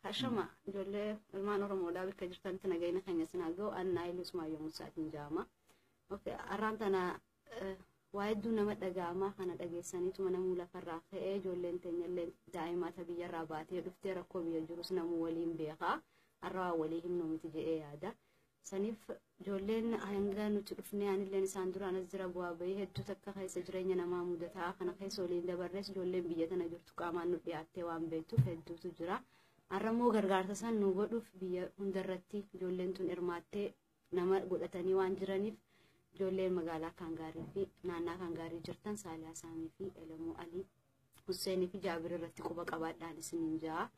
Hashama ijoollee ilmaan Oromoodhaa bakka jirtanitti nagayina keenya isin haa ga'u annaa ilus maayyoo musaatiin jaama. Arraan tana waa hedduu nama dhaga'amaa kana dhageessaniituma namuu lafarraa ka'ee ijoolleen teenyallee daa'imaa ta biyyarraa baatee dhuftee rakkoo biyya jirus namuu waliin beekaa har'a waa walii himnu miti jedhee yaada. Saniif ijoolleen hanga nuti dhufnee anilleen isaan duraan as jira bu'aa bahii hedduu takka keessa jireenya namaa mudataa kana keessa waliin dabarrees ijoolleen biyya tana jirtu qaamaan nu dhiyaattee waan beektuuf hedduutu jira. Har'a immoo gargaarsa san nu godhuuf biyya hundarratti ijoolleen tun hirmaattee nama godhatanii waan jiraniif ijoolleen magaalaa Kaangaarii fi naannaa Kaangaarii jirtan Saaliyaa Saamii fi Elemuu Alii Husseenii fi Jaabir irratti quba qabaadhaan isiniin ja'a.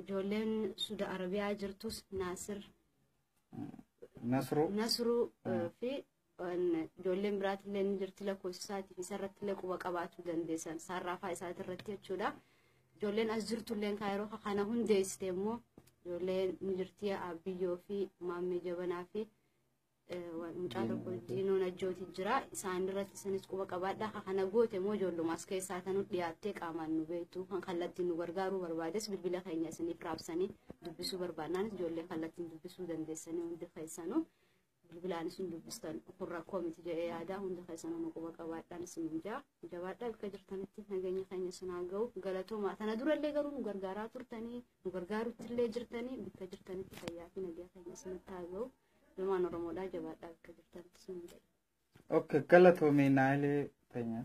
Ijoolleen Suda Arabiyaa jirtus Naasir Nasruu. Nasruu eh, fi eh, ijoolleen biraatillee ni jirti lakkoofsa isaatiif isarrattillee quba qabaachuu dandeessan saarraafaa isaatirratti jechuudha. Ijoolleen as jirtulleen kaa yeroo kana hundeessite immoo ijoolleen ni jirti Abbiyyoo fi Maammee Jabanaa fi mucaa tokko diinoon ajjooti jira isaan irratti isanis quba qabaadha ka kana goote moo ijoollumaas keessaa tanu dhiyaattee qaamaan nu beektu kan kallattiin nu gargaaruu barbaades bilbila keenya isiniif raabsanii dubbisuu barbaadnaanis ijoollee kallattiin dubbisuu dandeessanii hundi keessanuu bilbilaan isin dubbistan kun rakkoo miti jedhee yaadaa hundi keessanuu nu quba qabaadhaan isin jaa jabaadhaa bakka jirtanitti nageenya keenya isin haa ga'u galatoomaa tana durallee garuu nu gargaaraa turtanii nu gargaarutti illee jirtanii bakka jirtanitti fayyaa fi nageenya keenya isinitti haa ga'u. Ilmaan Oromoodhaa jabaadhaa bakka jirtan sun jedhe. Okay, galatoomi Naayilee Teenyaa.